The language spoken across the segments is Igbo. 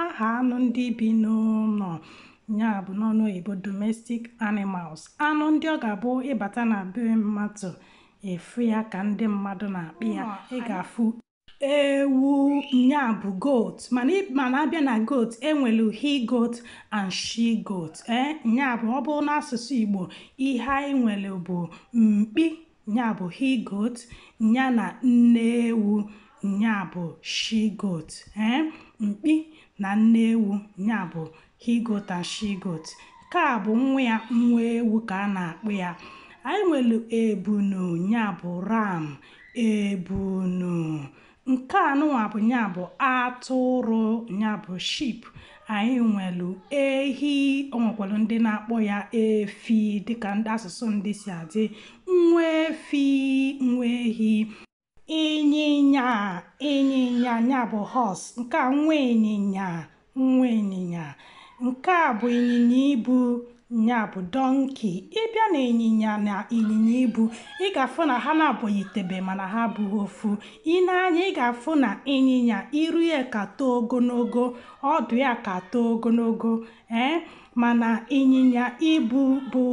aha anụ ndị bi n'ụnọ nya bụ n'ọnụ oyibo domestic animals anụ ndị ọ ga-abụ ị bata na be mmadụ ị fụ ya ka ndị mmadụ na-akpa ya ị ga-afụ ewu nya bụ goat mana a bịa na goat e nwelu he goat and she goat ee eh, nya bụ ọ bụrụ n'asụsụ Igbo ihe anyị nwere bụ mkpi Nya bụ he goat, nya na nne ewu, nya bụ she goat. Ee, mkpi na nne ewu, nya bụ he goat and she goat. Nke a bụ nwa ya, nwa ewu ka a na-akpọ ya. Anyị nwere ebunu, nya bụ ram, ebunu. nke a nụnwa bụ nya bụ atụrụ nya bụ sheep anyị nwelu ehi o nwekwolu ndị na-akpọ ya efi dịka ndị asụsụ ndị si adị nwa efi nwa ehi ịnyịnya ịnyịnya nya bụ horse nke a nwa ịnyịnya nwa ịnyịnya nke a bụ ịnyịnya ibu ya bụ donkey ị bịa na ịnyịnya na ịnyịnya ibu ị ga-afụ na ha naabọ yitebe mana ha abụghị ofu ị nee anya ị ga-afụ na ịnyịnya iru ya ka too ogonogo ọdụ ya ka too ogonogo ee mana ịnyịnya ibu bụ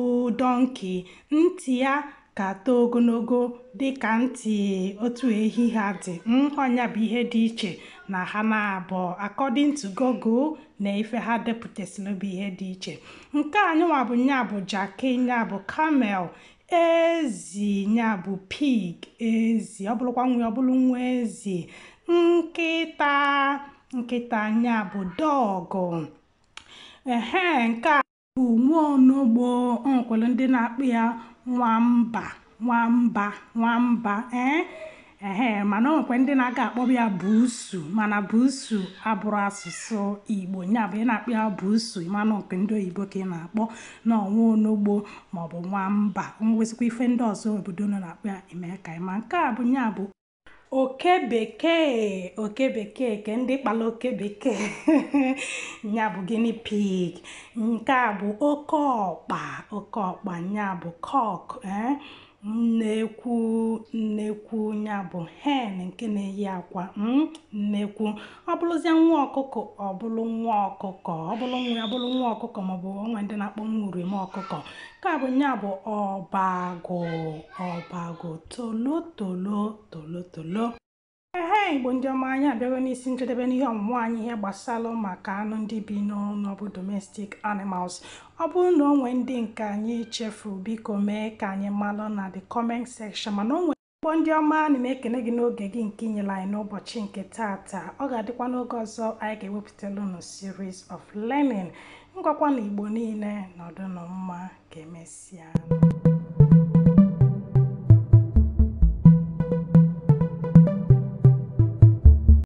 donkey ntị ya ka too ogonogo dị ka ntị otu ehi ha dị hmm, ọ nya bụ ihe dị iche na ha naabọ according to Google na ife ha depụtasịrị bụ ihe dị iche nke a nụnwa bụ nya bụ jaki nya bụ camel ezi nya bụ pig ezi ọ bụrụkwa nwa ya ọ bụrụ nwa ezi nkịta nkịta nya bụ dog ehe nke a bụ nwa onogbo o nwekwara ndị na-akpọ ya nwamba nwamba nwamba ee ehe mana o nwekwa ndị na-aga akpọba ya buusu mana buusu abụrọ asụsụ igbo nya bụ ị na-akpọ ya buusu ị ma na ọ nke ndị oyibo ka ị na-akpọ na ọ nwa onogbo maọbụ nwamba o nwezikwa ife ndị ọzọ obodo unu na-akpọ ya i mee ka anyị ma nke a bụ nya bụ oke bekee oke bekee ke ndị kpọlụ oke bekee nya bụ guinea pig nke a bụ oke ọkpa oke ọkpa nya bụ cock eh? nnekwu nnekwu nya bụ hen nke na-eyi akwa hmm? nnekwu ọ bụrụzie nwa ọkụkọ ọ bụrụ nwa ọkụkọ ọ bụrụ nwa ya bụrụ nwa ọkụkọ maọbụ o nwe ndị na-akpọ nwa uriom ọkụkọ nke a bụ nya bụ ọbagụ ọbagụ tolotolo tolotolo ehe igbo ndị ọma anyị abịago n'isi njedebe n'ihe ọmụmụ anyị ihe gbasara maka anụ ndị bi n'ụlọ bụ domestic animals ọ bụrụ na o nwee ndị nke anyị chefu biko mee ka anyị malụ na the comment section mana o Igbo ndị ọma ana m ekene gị n'oge gị nke i nyere anyị n'ụbọchị nke taata ọ ga-adịkwa n'oge ọzọ anyị ga-ewepụtala unu series of learning ngwakwanụ Igbo niile nọdụnụ mma ka emesịa